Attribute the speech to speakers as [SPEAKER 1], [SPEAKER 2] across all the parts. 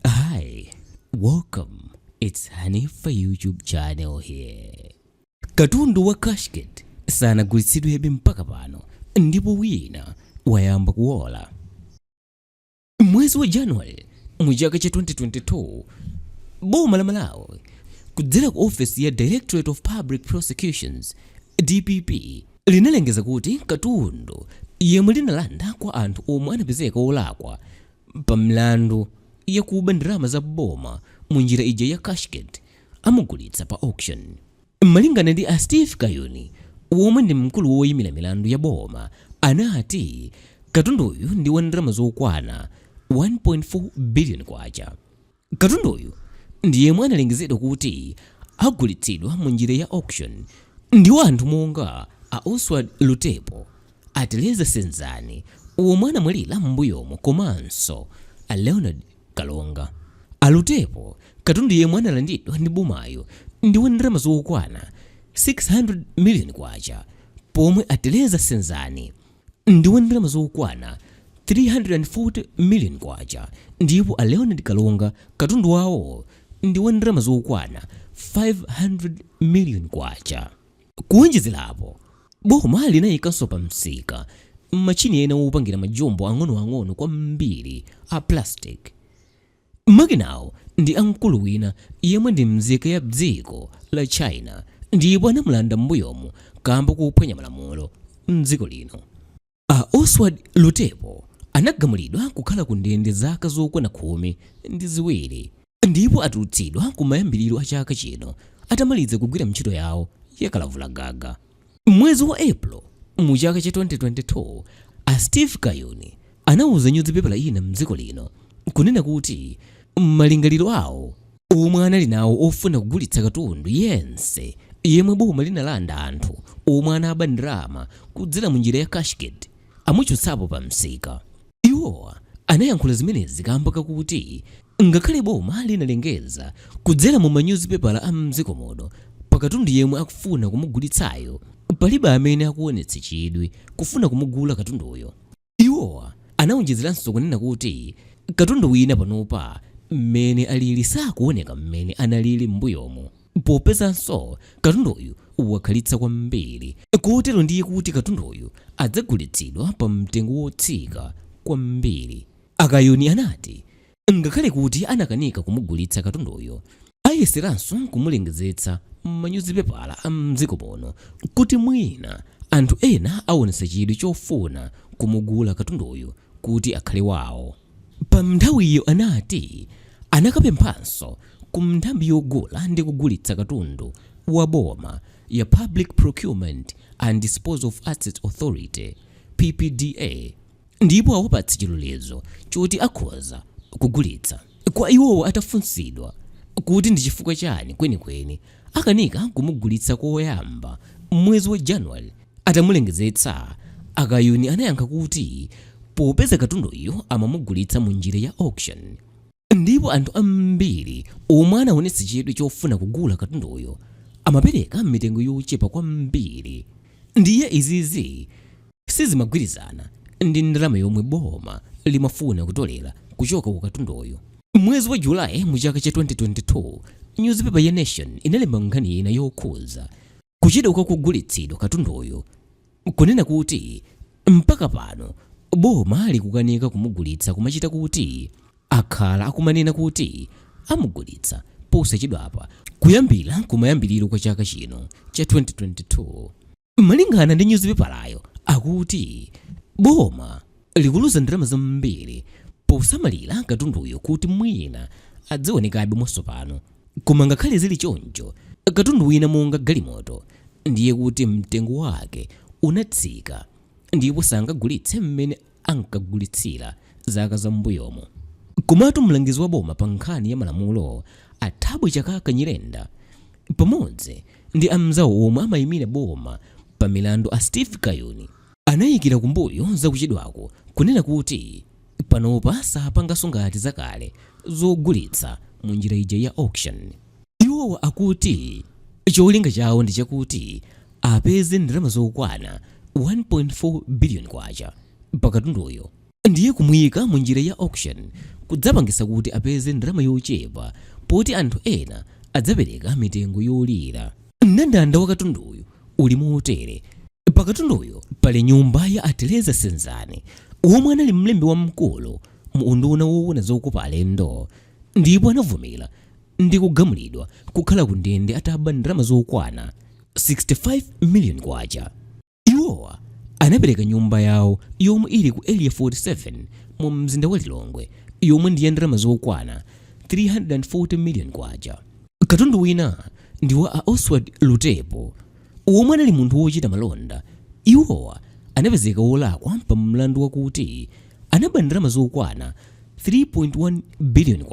[SPEAKER 1] Hi, welcome. It's Hanifa YouTube channel here. Katundu wa cashgate sanagulitsidwebe mpaka pano ndipo wina wayamba kuwola. Mwezi wa January mu chaka cha 2022 boma la Malawi kudzera ku ofesi ya Directorate of Public Prosecutions DPP linalengeza kuti katundu yemwe linalanda kwa anthu omwe anapezeka olakwa pa milandu yakuba ndalama za boma mu njira ija ya cashgate amugulitsa pa auction. Malingana ndi a Steve Kayuni omwe ndi mkulu woyimira milandu ya boma anati katunduyu ndi wa ndalama zokwana K1.4 billion. Katunduyu ndi yemwe analengezedwa kuti agulitsidwa mu njira ya auction ndi wa anthu monga a Osward Lutepo, a Teleza Senzani omwe anamwalira m'mbuyomu komanso a Leonard Kalonga. A Lutepo, katundu yemwe analandidwa ndi bomayu ndi wa ndalama zokwana K600 million pomwe a Teleza Senzani, ndi wa ndalama zokwana K340 million ndipo a Leonard Kalonga katundu wawo ndi wa ndalama zokwana K500 million. Kuwonjezerapo, boma linayikanso pa msika machini ena wopangira majumbo ang'onoang'ono kwambiri a plastic. Makinawo ndi a mkulu wina yemwe ndi mzika ya dziko la China ndipo anamulanda m'mbuyomu kamba kophwanya malamulo m'dziko lino. A Osward Lutepo anagamulidwa kukhala ku ndende zaka zokwana khumi ndi ziwiri ndipo atulutsidwa kumayambiriro a chaka chino atamaliza kugwira ntchito yawo ya kalavula gaga. M'mwezi wa April mu chaka cha 2022, a Steve Kayuni anauza nyuzipepala ina mdziko lino kunena kuti malingaliro awo omwe anali nawo ofuna kugulitsa katundu yense yemwe boma linalanda anthu omwe anaba ndalama kudzera mu njira ya cashgate amuchotsapo pa msika. Iwo anayankhula zimenezi kaamba kakuti ngakhale boma linalengeza kudzera mu manyuzipepala a m'dziko muno pa katundu yemwe akufuna kumugulitsayo, palibe amene akuonetsa chidwi kufuna kumugula katunduyo. Iwo anaonjezeranso kunena kuti katundu wina panopa mmene alili sakuoneka mmene analili m'mbuyomu. Popezanso katunduyu wakhalitsa kwambiri, kotero ndiye kuti katunduyu adzagulitsidwa pa mtengo wotsika kwambiri. A Kayuni anati ngakhale kuti anakanika kumugulitsa katunduyo, ayeseranso kumulengezetsa m'manyuzipepala a m'dziko muno kuti mwina anthu ena awonetsa chidwi chofuna kumugula katunduyu kuti akhale wawo. Pa nthawiyo anati anakapemphanso ku nthambi yogula ndi kugulitsa katundu wa boma ya Public Procurement and Disposal of Assets Authority, PPDA, ndipo awapatse chilolezo choti akhoza kugulitsa. Kwa iwowa atafunsidwa kuti ndi chifukwa chani kwenikweni akanika kumugulitsa koyamba m'mwezi wa January atamulengezetsa, a Kayuni anayankha kuti popeza katunduyo amamugulitsa mu njira ya auction ndipo anthu ambiri omwe anaonetsa chidwi chofuna kugula katunduyo amapereka mitengo yochepa kwambiri ndiye izizi sizimagwirizana ndi ndalama yomwe boma limafuna kutolera kuchoka ku katunduyu. M'mwezi wa July mu chaka cha 2022, nyuzipepa ya Nation inalemba nkhani ina yokhudza kuchedwa kwa kugulitsidwa katunduyu, kunena kuti mpaka pano boma likukanika kumugulitsa kumachita kuti akhala akumanena kuti amugulitsa posachedwapa kuyambira kumayambiriro kwa chaka chino cha 2022. Malingana ndi nyuzipepalayo akuti boma likuluza ndalama zambiri posamalira katunduyo kuti mwina azionekabe mwatsopano. Koma ngakhale zili choncho, katundu wina monga galimoto ndiye kuti mtengo wake unatsika ndipo sangagulitse mmene ankagulitsira zaka za m'mbuyomu. Komatu mlangizi wa boma pa nkhani ya malamulo a Thabo Chakaka Nyirenda pamodzi ndi amnzawo omwe amayimira boma pa milandu a Steve Kayuni anayikira kumbuyo za kuchedwaku kunena kuti panopa sapanganso ngati zakale zogulitsa mu njira ija ya auction. Iwowa akuti cholinga chawo ndi chakuti apeze ndalama zokwana 1.4 biliyoni kwacha pa katunduyo ndiye kumuika mu njira ya auction kudzapangitsa kuti apeze ndalama yochepa poti anthu ena adzapereka mitengo yolira. Mndandanda wa katunduyu uli motere, Pa katunduyu pali nyumba ya a Tereza Senzani omwe anali mlembi wamkulu mu unduna woona zokopa alendo. ndipo anavomera ndi kugamulidwa kukhala ku ndende ataba ndalama zokwana 65 million kwacha. Iwowa anapereka nyumba yawo yomwe ili ku area 47 mu mzinda wa Lilongwe yomwe ndi ya ndalama zokwana 340 million kwacha. Katundu wina ndi wa a Oswald Lutepo omwe anali munthu wochita malonda. Iwowa anapezeka wolakwa pa mlandu wakuti anaba ndalama zokwana K3.1 biliyoni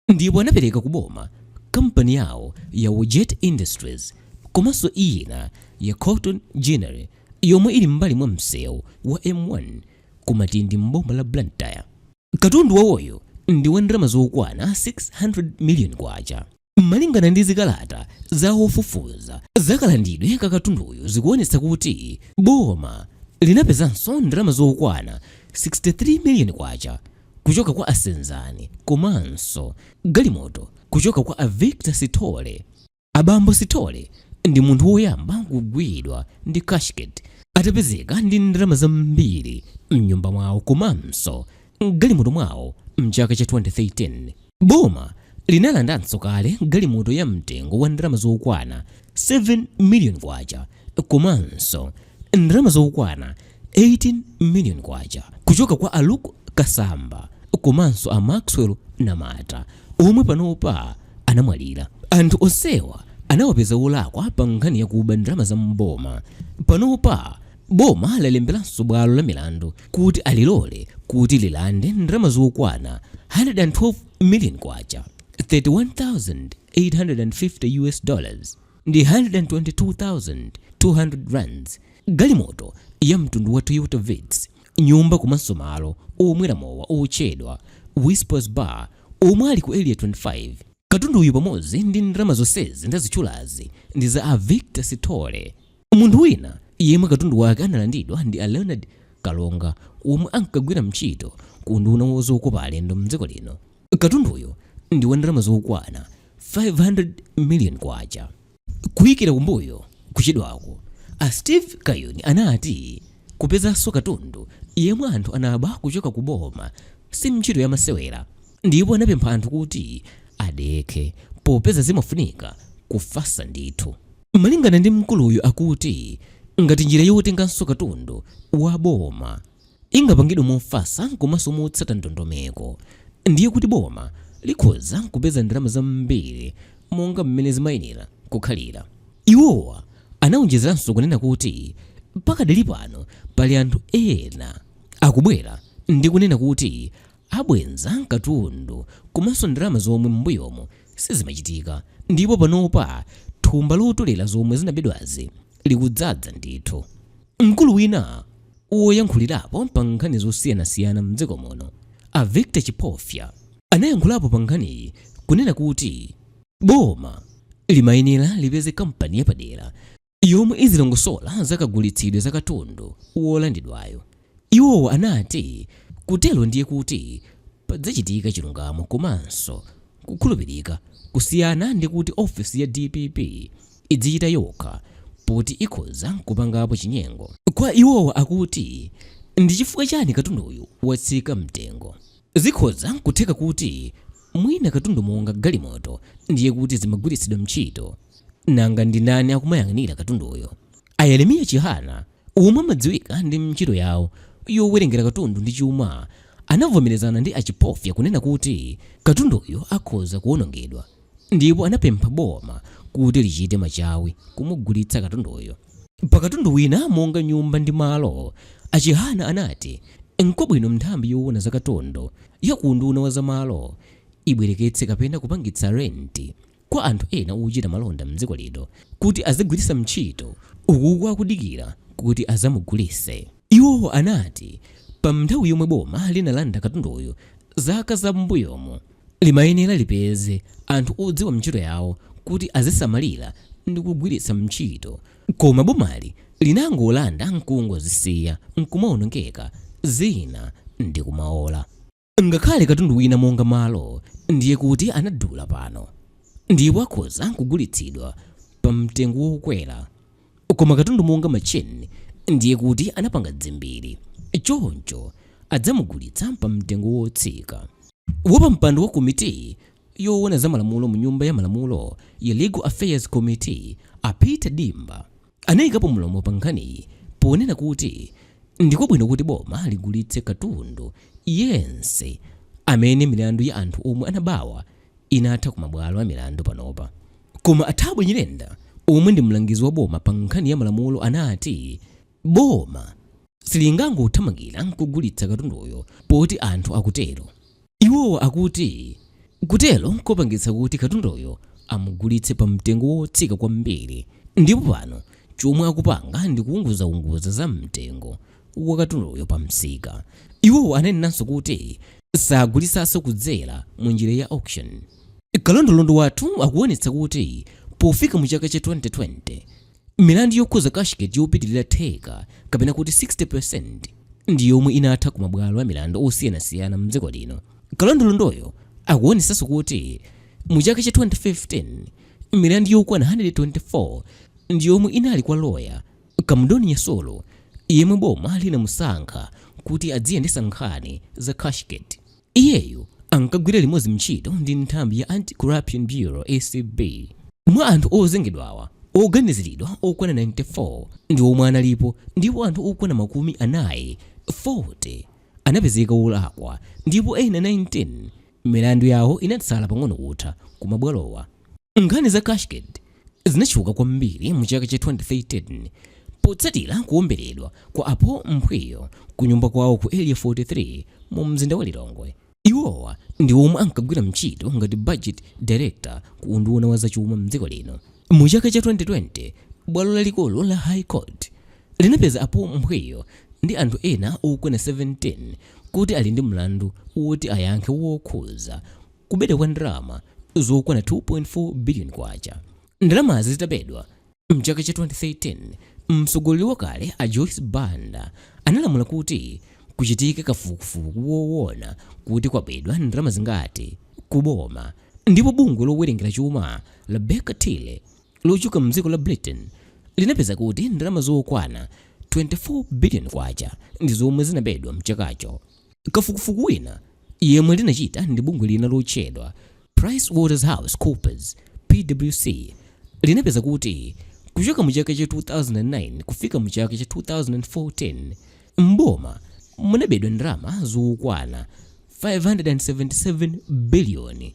[SPEAKER 1] ndipo anapereka ku boma kampani yawo ya Wojet Industries komanso ina ya Cotton Ginnery yomwe ili m'mbali mwa msewu wa M1 ku Matindi m'boma la Blantyre. Katundu wawoyu ndi wa ndalama zokwana K600 miliyoni. Malingana ndi zikalata za ofufuza za kalandidwe ka katunduyu zikuonetsa kuti boma linapezanso ndalama zokwana K63 million kuchoka kwa a Senzani komanso galimoto kuchoka kwa a Victor Sithole. A bambo Sithole ndi munthu woyamba kugwidwa ndi cashgate atapezeka ndi ndalama zambiri mnyumba mwawo komanso m'galimoto mwawo m'chaka cha 2013. Boma linalandanso kale galimoto ya mtengo wa ndalama zokwana 7 million kwacha komanso ndalama zokwana 18 million kwacha kuchoka kwa a Luke Kasamba komanso a Maxwell Namata omwe panopa anamwalira. Anthu onsewa anawapeza olakwa pa nkhani yakuba ndalama za m'boma. Panopa Boma lalemberanso bwalo la milandu kuti alilole kuti lilande ndalama zokwana 112 million kwacha, 31,850 US dollars, ndi 122,200 rands, galimoto ya mtundu wa Toyota Vitz, nyumba komanso malo omwera mowa otchedwa Whispers Bar omwe ali ku Area 25. Katunduyu pamodzi ndi ndalama zonsezi ndazitchulazi ndi za a Victor Sithole. Munthu wina yemwe katundu wake analandidwa ndi a Leonard Kalonga omwe ankagwira ntchito ku unduna wa zokopa alendo mdziko lino. Katunduyu ndi wa ndalama zokwana 500 million kwacha. Kuikira kumbuyo kuchedwaku, a Steve Kayuni anati kupezanso katundu yemwe anthu anaba kuchoka ku boma si ntchito ya masewera ndipo anapempha anthu kuti adekhe popeza zimafunika kufasa ndithu. Malingana ndi mkuluyu akuti ngati njira yotenganso katundu wa boma ingapangidwe mofasa komanso motsata ndondomeko ndiye kuti boma likhoza kupeza ndalama zambiri monga m'mene zimayenera kukhalira. Iwowa anaonjezeranso kunena kuti pakadali pano pali anthu ena akubwera ndi kunena kuti Abwenza katundu komanso ndalama zomwe m'mbuyomu sizimachitika ndipo panopa thumba lotolera zomwe zinabedwazi likudzadza ndithu. Mkulu wina woyankhulirapo pa nkhani zosiyanasiyana m'dziko muno, a Victor Chipofya, anayankhulapo pa nkhaniyi kunena kuti boma limayenera lipeze kampani yapadera yomwe izilongosola za kagulitsidwe za katundu wolandidwayo. Iwo anati kutero ndiye kuti padzachitika chilungamo komanso kukhulupirika kusiyana ndi kuti ofesi ya dpp idzichita yokha poti ikhoza nkupangapo chinyengo. Kwa iwowa akuti ndi chifukwa chani katunduyu watsika mtengo? Zikhoza n'kutheka kuti mwina katundu monga galimoto ndiye kuti zimagwiritsidwa ntchito. Nanga ndi ndani akumayang'anira katunduyo? A Yeremiya Chihana, omwe amadziwika ndi ntchito yawo yowerengera katundu ndi chuma, anavomerezana ndi a Chipofya kunena kuti katunduyo akhoza kuwonongedwa. ndipo anapempha boma kuti lichite machawi kumugulitsa katunduyo. Pa katundu wina monga nyumba ndi malo, a Chihana anati nkwabwino nthambi yoona za katundu ya ku unduna wa za malo ibwereketse kapena kupangitsa renti kwa anthu ena ochita malonda m'dziko lino kuti azigwiritsa ntchito ukuku akudikira kuti azamugulitse. Iwo anati pa nthawi yomwe boma linalanda katunduyu zaka za m'mbuyomu, limayenera lipeze anthu odziwa ntchito yawo kuti azisamalira ndikugwiritsa ntchito koma bomali linangolanda nkungozisiya nkumaonongeka zina ndikumaola. Ngakhale katundu wina monga malo ndiye kuti anadula pano ndipo akhoza nkugulitsidwa pa mtengo wokwera koma katundu monga matchini ndiye kuti anapanga dzimbiri choncho adzamugulitsa pa mtengo wotsika. Wapampando wa komitiyi yoona za malamulo mu Nyumba ya Malamulo ya Legal Affairs Committee a Peter Dimba anaikapo mlomo pa nkhaniyi ponena kuti ndikwabwino kuti boma ligulitse katundu yense amene milandu ya anthu omwe anabawa inatha ku mabwalo a milandu panopa. Koma a Thabo Nyirenda omwe ndi mlangizi wa boma pa nkhani ya malamulo anati boma silingangothamangira n'kugulitsa katunduyo poti anthu akutero. Iwo akuti kutero nkopangitsa kuti katunduyo amugulitse pa mtengo wotsika kwambiri ndipo pano chomwe akupanga ndi kuunguzaunguza za mtengo wa katunduyo pa msika. Iwo ananenanso kuti sagulitsanso kudzera mu njira ya auction. Kalondolondo wathu akuonetsa kuti pofika mu chaka cha 2020, Milandu yokhudza cashgate yopitirira theka kapena kuti 60% ndi yomwe inatha ku mabwalo amilandu osiyanasiyana m'dziko lino. Kalondolondoyo akuonetsanso kuti mu chaka cha 2015, milandu yokwana 124 ndi yomwe inali kwa loya Kamudoni Nyasulu yemwe boma linamusankha kuti adziyendetsa nkhani za cashgate. Iyeyo ankagwira limodzi ntchito ndi nthambi ya Anti-Corruption Bureau, acb. Mwa anthu ozengedwawa, oganiziridwa okwana 94 ndi omwe analipo ndipo anthu okwana makumi anayi 40 anapezeka olakwa ndipo ena 19 milandu yawo inatsala pang'ono kutha kumabwalowa. Nkhani za Cashgate. zinatchuka kwambiri mu chaka cha 2013 potsatira kuwomberedwa kwa a Paul Mphwiyo ku nyumba kwawo ku Area 43 mu mzinda wa Lilongwe. Iwowa ndi omwe ankagwira ntchito ngati budget director ku unduna wa zachuma mdziko lino. Mu chaka cha 2020, bwalo lalikulu la High Court linapeza a Paul Mphwiyo ndi anthu ena okwana 17 kuti ali ndi mlandu woti ayankhe wokhuza kubedwa kwa ndalama zokwana 2.4 billion kwacha. Ndalamazi zitabedwa mchaka cha 2013, mtsogoleri wakale a Joyce Banda analamula kuti kuchitike kafukufuku wowona kuti kwabedwa ndalama zingati kuboma, ndipo bungwe lowerengera chuma la Baker Tilly lochokera mdziko la Britain linapeza kuti ndalama zokwana 24 billion kwacha ndi zomwe zinabedwa mchakacho. Kafukufuku wina yemwe linachita ndi bungwe lina lotchedwa PricewaterhouseCoopers, PwC, linapeza kuti kuchoka mu chaka cha 2009 kufika mu chaka cha 2014, m'boma munabedwa ndalama zokwana K577 biliyoni.